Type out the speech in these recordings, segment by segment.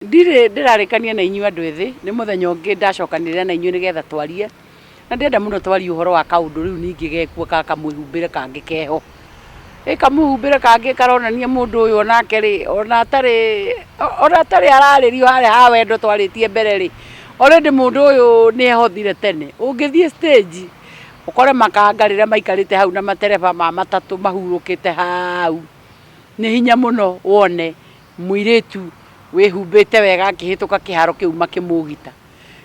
Ndirĩ ndĩrarĩkania na inyuĩ andũ ethĩ, nĩ mũthenya ũngĩ ndacokanĩrĩra na inyuĩ nĩgetha twarie, na ndĩrenda mũno twarie ũhoro wa kaũndũ rĩu ningĩ gekuo ga kamwĩhumbĩre kangĩ keho. Ĩ kamwĩhumbĩre kangĩ karonania mũndũ ũyũ onake rĩ, ona atarĩ, ona atarĩ ararĩrio harĩa ha wendo twarĩtie mbere rĩ, already mũndũ ũyũ nĩehothire tene. Ũngĩthiĩ stage ũkore makanga rĩrĩa maikarĩte hau na matereba ma matatũ mahurũkĩte hau, nĩ hinya mũno wone Mũirĩtu wĩhumbĩte wega akĩhĩtũka kĩharo kĩu makĩmũũgita.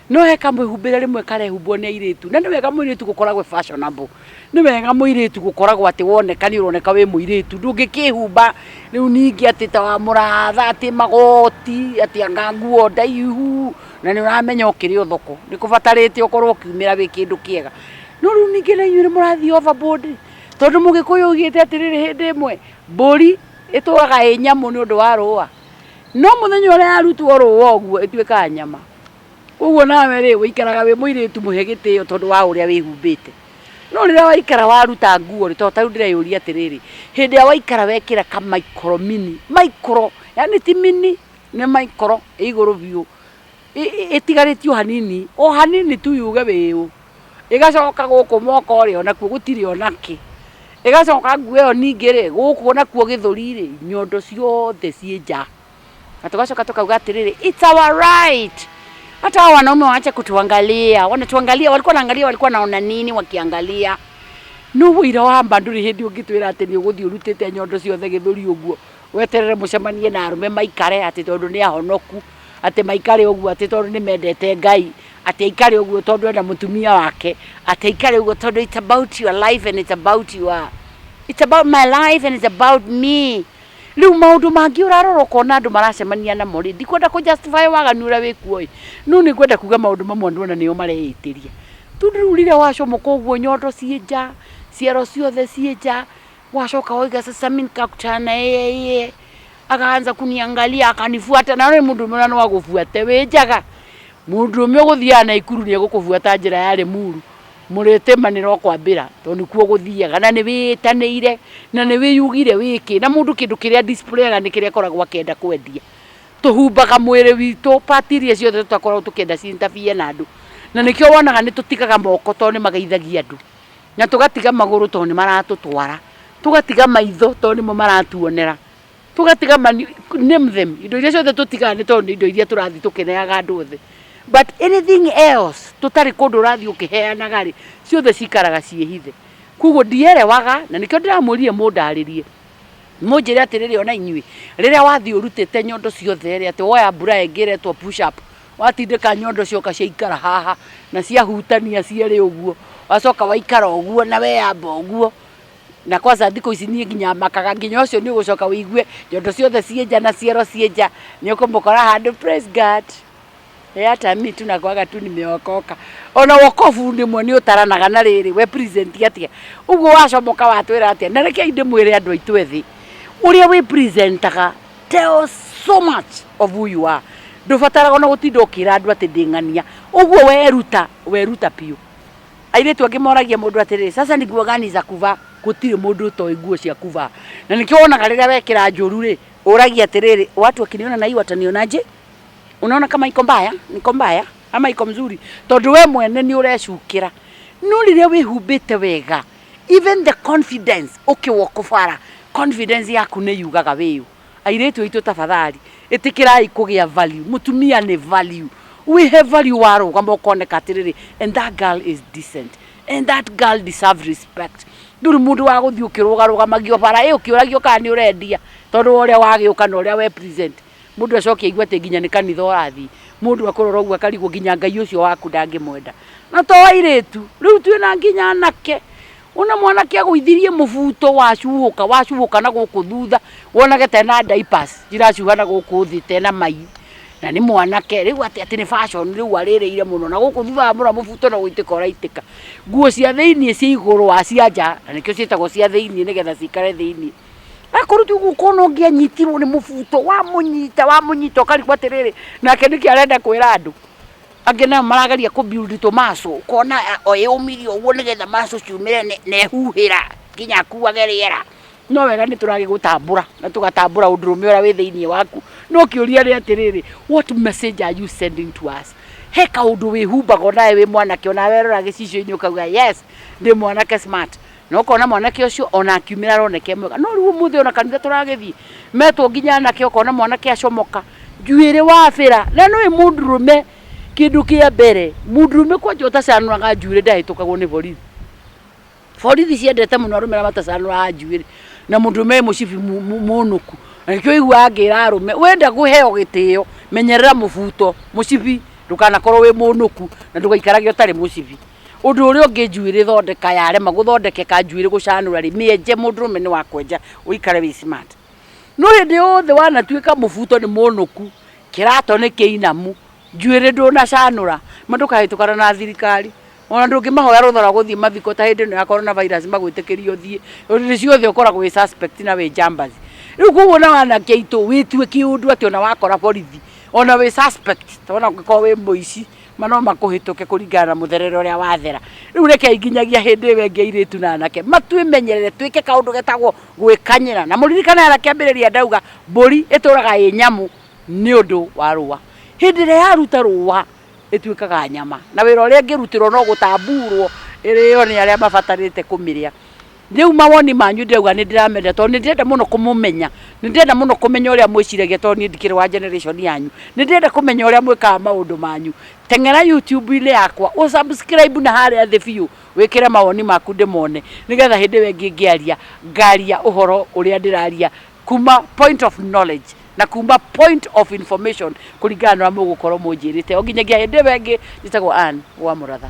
No he kamwĩhumbĩre rĩmwe karehumbwo nĩ airĩtu, na nĩ wega mũirĩtu gũkoragwo e fashionable. Nĩ wega mũirĩtu gũkoragwo atĩ woneka nĩ ũroneka wĩ mũirĩtu. Ndũngĩkĩĩhumba rĩu ningĩ atĩ ta wa mũratha, atĩ magoti, atĩ anga nguo ndaihu, na nĩ ũramenya ũkĩrĩ o thoko. Nĩ kũbatarĩte ũkorwo ũkiumĩra wĩ kĩndũ kĩega. No rĩu ningĩ na inyuĩ nĩ mũrathiĩ overboard rĩ, tondũ Mũgĩkũyũ oigĩte atĩrĩrĩ hĩndĩ ĩmwe, mbũri Ĩtũũraga ĩ nyamũ nĩ ũndũ wa rũũa, no mũthenya ũrĩa yarutwo rũũa ũguo ĩtuĩkaga nyama. Kwoguo nawe-rĩ, ũikaraga wĩ mũirĩtu mũhe gĩtĩo tondũ wa ũrĩa wĩhumbĩte. No rĩrĩa waikara waruta nguo-rĩ, tondũ ta rĩu ndĩreyũria atĩrĩrĩ, hĩndĩ ĩrĩa waikara wekĩra ka maikoro mini, maikoro, yaani ti mini, nĩ maikoro, ĩ igũrũ biũ, ĩtigarĩtie o hanini o hanini tu yuge wĩũ ĩgacoka gũkũ moko ũrĩa nakuo gũtirĩ ona kĩ ĩgacoka nguo ĩyo ningĩ rĩ gũkũ nakuo gĩthũri rĩ nyondo ciothe ciĩ nja na tũgacoka tũkauga atĩrĩrĩ it's our right hata hao wanaume waache kutuangalia wanatuangalia walikuwa naangalia walikuwa naona nini wakiangalia nä å ira wa mba ndå rä hä ndä å ngä twä ra atä nä å gå thiä å rutä te nyondo ciothe gä thå ri å guo weterere må cemanie na arå me maikare atä tondå nä ahonoku atĩ maikare ũguo atĩ tondũ nĩ mendete Ngai, atĩ aikare ũguo tondũ ena mũtumia wake, atĩ aikare ũguo tondũ it's about your life and it's about your it's about my life and it's about me. Rĩu maũndũ mangĩ ũrarora ũkona andũ maracemania namo rĩ, ndikwenda kũ justify waganu ũrĩa wĩ kuo ĩ, no nĩ ngwenda kuga maũndũ mamwe andũ ona nĩo mareĩtĩria. Tondũ rĩu rĩrĩa wacomoka ũguo nyondo ciĩ nja, ciero ciothe ciĩ nja, Wacoka wauga sasa, mimi nikakutana na yeye, akaanza kuniangalia, akanifuata. Na ũrĩ mũndũ ũmwe na no agũbuate wĩ njaga, mũndũ ũmwe ũgũthiaga Naikuru nĩ egũkũbuata njĩra ya Limuru, mũrĩtĩmanĩra ũkwambĩra tondũ nĩkuo ũgũthiaga, na nĩ wĩĩtanĩire na nĩ wĩyugire wĩ kĩ, na mũndũ kĩndũ kĩrĩa adisplayaga nĩ kĩrĩa akoragwo akĩenda kwendia. Tũhumbaga mwĩrĩ witũ part iria ciothe tũtakoragwo tũkĩenda ci interfere na andũ, na nĩkĩo wonaga nĩ tũtigaga moko tondũ nĩ mageithagia andũ. na tũgatiga magũrũ tondũ nĩ maratũtwara, tũgatiga maitho tondũ nĩmo maratuonera, tũgatiga mani, name them, indo iria ciothe tũtigaga nĩ tondũ nĩ indo iria tũrathiĩ tũkĩneaga andũ othe. But anything else tũtarĩ kũndũ ũrathiĩ ũkĩheanaga rĩ, ciothe cikaraga ciĩhithe. Kwoguo ndielewaga, na nĩkĩo ndĩramũrire mũndarĩrie, mũnjĩre atĩrĩrĩ o na inyuĩ, rĩrĩa wathiĩ ũrutĩte nyondo ciothe rĩ, atĩ woya buraya ĩngĩ ĩretwo push up, watindĩka nyondo cioka ciaikara haha na ciahutania cierĩ ũguo wacoka waikara ũguo na weyamba ũguo na kwanza thikũ ici niĩ nginya makaga nginya ũcio nĩ ũgũcoka wĩigue nyondo ciothe ciĩ nja na ciero ciĩ nja nĩ ũkũmũkora handũ praise God Eh, hata mi tu nakwaga tu nimeokoka ona wokovu ndimwe nĩ ũtaranaga na rĩrĩ we present atĩa ũguo wacomoka watwĩra atĩa na rekei ndĩmwĩre andũ aitũ ethĩ ũrĩa wĩ presentaga Tell us so much of who you are. Ndũbataraga ona gũtinda ũkĩra andũ atĩ ndĩ ng'ania. Ũguo weruta, weruta biũ. Airĩtu angĩ moragia mũndũ atĩrĩrĩ, sasa ni nguo gani za kuvaa? Gũtirĩ mũndũ ũtoĩ nguo cia kuvaa. Na nĩkĩo wonaga rĩrĩa wekĩra njũru rĩ, ũragia atĩrĩrĩ, watu wakiniona na hii watanionaje? Unaona kama iko mbaya, niko mbaya ama iko mzuri? Tondũ we mwene nĩ ũrecukĩra. No rĩrĩa wĩhumbĩte wega, even the confidence ũkĩwwo kũbara confidence yaku nĩ yugaga wĩyũ airĩtu aitũ tafadhali ĩtĩkĩrai kũgĩa value mũtumia nĩ value wihe value warũgama ũkoneka atĩrĩrĩ and that girl is decent and that girl deserve respect ndũrĩ mũndũ wa gũthiĩ ũkĩrũgarũgamagio bara ĩ ũkĩũragio kana nĩ ũrendia tondũ wa ũrĩa wagĩũka na ũrĩa we present Mũndũ acoke aigue atĩ nginya nĩ kanitha ũrathiĩ. Mũndũ akũrora ũguo akarigwo nginya Ngai ũcio waku ndangĩmwenda. Na to airĩtu, rĩu twĩna nginya anake. Wona mwanake agũithirie mũbuto wacuhũka, wacuhũka na gũkũ thutha, wonage ta ena diapers iracuha na gũkũ thĩ ta ena mai. Na nĩ mwanake, rĩu atĩ atĩ nĩ fashion rĩu arĩrĩire mũno. Na gũkũ thutha wamũra mũbuto no gũitĩka ũraitĩka. Nguo cia thĩiniĩ cia igũrũ wa cia nja, na nĩkĩo ciĩtagwo cia thĩiniĩ nĩgetha cikare thĩiniĩ. akorwo ti ũguo kona ũngĩanyitirwo nĩ mũbuto wamũnyita wamũnyita ũkarigwo atĩrĩrĩ nake nĩkĩ arenda kwĩra andũ angĩ nayo marageria kũ build tomaso ũkona a- o yũmire ũguo nĩgetha maso ciumĩre nĩ- na ehuhĩra nginya akuage rĩera no wega nĩ tũragĩ gũtambũra na tũgatambũra ũndũrũme ũrĩa wĩ thĩinĩ waku no kĩũria nĩ atĩrĩrĩ what message are you sending to us he kaũndũ wĩhumbaga onawe wĩ mwanake onawe werora gĩcicio-inĩ ũkauga yes ndĩ mwanake smart na ũkona mwanake ũcio ona akiumĩra aroneke mwega no rĩu ũmũthĩ ona kanitha tũragĩthiĩ metwo nginya anake ũkona mwanake acomoka njuĩrĩ wabĩra na nũĩ mũndũrũme kĩndũ kĩa mbere mũndũrũme kwanja ũtacanũraga njuĩrĩ ndahĩtũkagwo nĩ borithi borithi ciendete mũno arũme arĩa matacanũraga njuĩrĩ na mũndũrũme wĩ mũcibi mu- mu- mũnũku na nĩkĩo ũiguaga ngĩra arũme wenda kũheo gĩtĩo menyerera mũbuto mũcibi ndũkanakorwo wĩ mũnũku na ndũgaikarage ũtarĩ mũcibi Ũndũ ũrĩa ũngĩ njuĩrĩ thondeka yarema gũthondekeka njuĩrĩ gũcanũra rĩ mĩenje mũndũrũme nĩ wakwenja ũikare wĩ smart. No hĩndĩ yothe wanatuĩka mũbuto nĩ mũnũku, kĩrato nĩ kĩinamu, njuĩrĩ ndũnacanũra, ma ndũkahĩtũkana na thirikari, ona ndũngĩmahoya rũtha rwa gũthiĩ mathiko ta hĩndĩ ĩno ya Corona virus magwĩtĩkĩrie ũthiĩ, tondũ hĩndĩ ciothe ũkoragwo wĩ suspect na wĩ njambathi. Rĩu koguo nawe anake aitũ wĩtue kĩũndũ atĩ ona wakora borithi ona wĩ suspect, ta ona ũngĩkorwo wĩ mũici. ma no makũhĩtũke kũringana na mũtherere ũrĩa wathera rĩu rekei nginyagia hĩndĩ ĩyo ĩngĩ airĩtu na anake matwĩmenyerere twĩke kaũndũ getagwo gwĩkanyĩra na mũririkane ara kĩambĩrĩria ndauga mbũri ĩtũraga ĩ nyamũ nĩ ũndũ wa rũa hĩndĩ ĩrĩa yaruta rũa ĩtuĩkaga nyama na wĩra ũrĩa ĩngĩrutĩrwo no gũtamburwo ĩrĩo nĩ arĩa mabatarĩte kũmĩrĩa Rĩu mawoni manyu ndĩrauga nĩ ndĩramenda tondũ nĩ ndĩrenda mũno kũmũmenya, nĩ ndĩrenda mũno kũmenya ũrĩa mwĩciragia tondũ niĩ ndikĩrĩ wa generation yanyu. Nĩ ndĩrenda kũmenya ũrĩa mwĩkaga maũndũ manyu. Teng'era YouTube-inĩ yakwa ũ subscribe na harĩa thĩ biũ wĩkĩre mawoni maku ndĩmone nĩgetha hĩndĩ ĩyo ĩngĩ ngĩaria ngaria ũhoro ũrĩa ndĩraria kuma point of knowledge na kuma point of information kũringana na ũrĩa mũgũkorwo mũnjĩrĩte. O nginyagia hĩndĩ ĩyo ĩngĩ, njĩtagwo Ann wa Mũratha.